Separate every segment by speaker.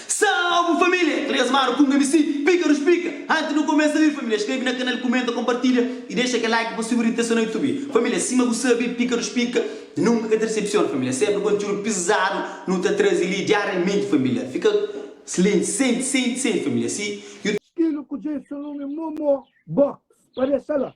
Speaker 1: Salve família! Três manu ku un MC, Píkarus Pika! Antis nu kumesa li família, skrebe na kanal, kumenta, konpartilha i dexa kel like pa subi ritesa na Youtube. Família, sima bu sabe, Píkarus Pika nunka ka ta desepsiona família, sénpri kontiúdu pizadu nu ta traze li diariamenti família. Fika slenti, senti, senti, senti família si. Skilu ku dja é
Speaker 2: só nome Momo Box pa dexa la.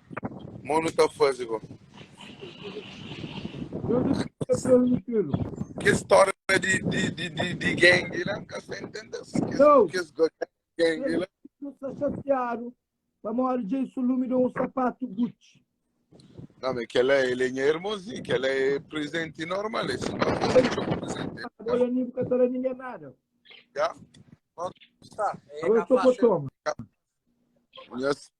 Speaker 3: Mo nu ta faze bo. Kes stória di, di, di, di, di gangue lá, nunca se entende. Kes, Não. kes ganga gangue lá. Eu estou chateado.
Speaker 2: Para maior dia isso lume deu um sapato Gucci. Não, mas
Speaker 3: aquela é lenha irmãozinho, aquela é presente normal. Esse não é presente. Olha, nem porque tá
Speaker 2: ninguém nada. Já?
Speaker 3: Tá,
Speaker 2: é Eu estou capaz. com toma. Yes.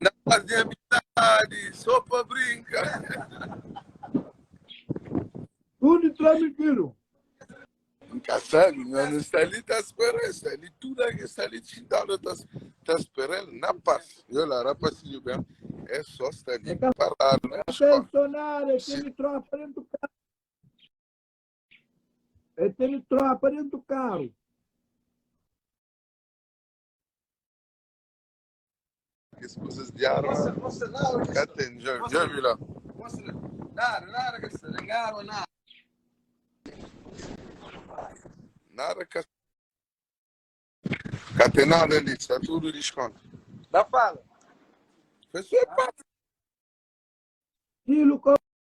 Speaker 2: Na faze
Speaker 3: amizadi só pa brinka.
Speaker 2: Tudo tranquilo. N
Speaker 3: ka sabe, mas n sta li ta spera el. Sta li tudo alguém sta li txintado ta ta spera el na pas. Eu la rapazinho bem, é só sta li parado na Até escola. sonar, é Sim.
Speaker 2: tendo tropa dentro do carro. É tendo tropa dentro do carro.
Speaker 3: Kes kusas di arma ka ten. Dja vi la. Nada ka. Ka ten nada li. Sta tudu diskontu.
Speaker 4: Pessoa
Speaker 3: pa.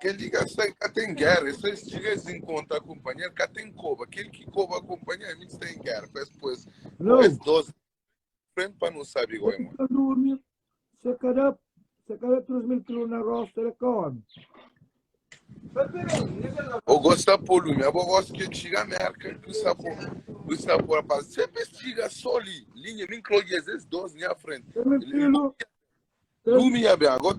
Speaker 3: Kel ki ka sta ka tem guerra, é só es txiga es encontra companheiro, ka tem coba. Kel ki coba companheiro, ami sta em guerra, pa es pô es, Não. pô es dois frente pa não sabe igual é mano. Ka durmi, se kada,
Speaker 2: se kada 3 mil kilo na rosta, ele ka homem.
Speaker 3: Eu gosto da polume, eu gosto que tira a merca do sabor, do sabor, rapaz. Sempre tira só ali, linha, nem clogues, esses dois, nem à frente. Ele filho, Lumi e bem, agora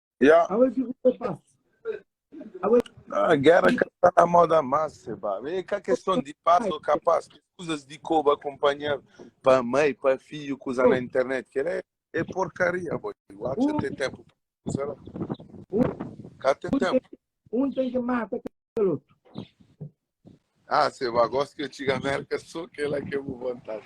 Speaker 2: Yeah. Awe ki
Speaker 3: ku ta
Speaker 2: pasa? Awe Ah,
Speaker 3: guerra ka tá na moda mais, seba. É cá questão de paz ou capaz, que coisas de coba acompanhar para mãe, para filho, coisa na internet, que é, é porcaria, boy. Lá já tem tempo. Sei lá. Cá tem tempo. um tem que
Speaker 2: matar aquele outro.
Speaker 3: Ah, seba, gosto que eu diga América, só que ela que eu vou vontade.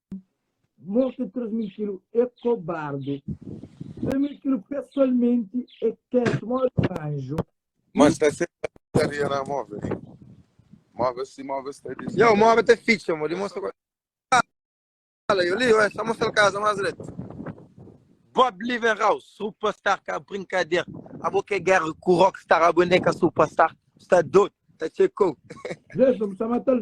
Speaker 2: mostra transmitilu é kobardu transmitilu pesoalmenti é ketu mó di un anju Mas tá
Speaker 3: sempre a putaria na móvel. Móvel se móvel está dizendo. Yo, móvel tá ficha, amor.
Speaker 4: Mostra qual. Fala, eu li, ué, só mostra a casa mais direito. Bob Livenhouse, superstar, cá, brincadeira. A boca é guerra com rockstar, a boneca superstar. Está doido, tá checou. Deixa-me, está
Speaker 2: matando.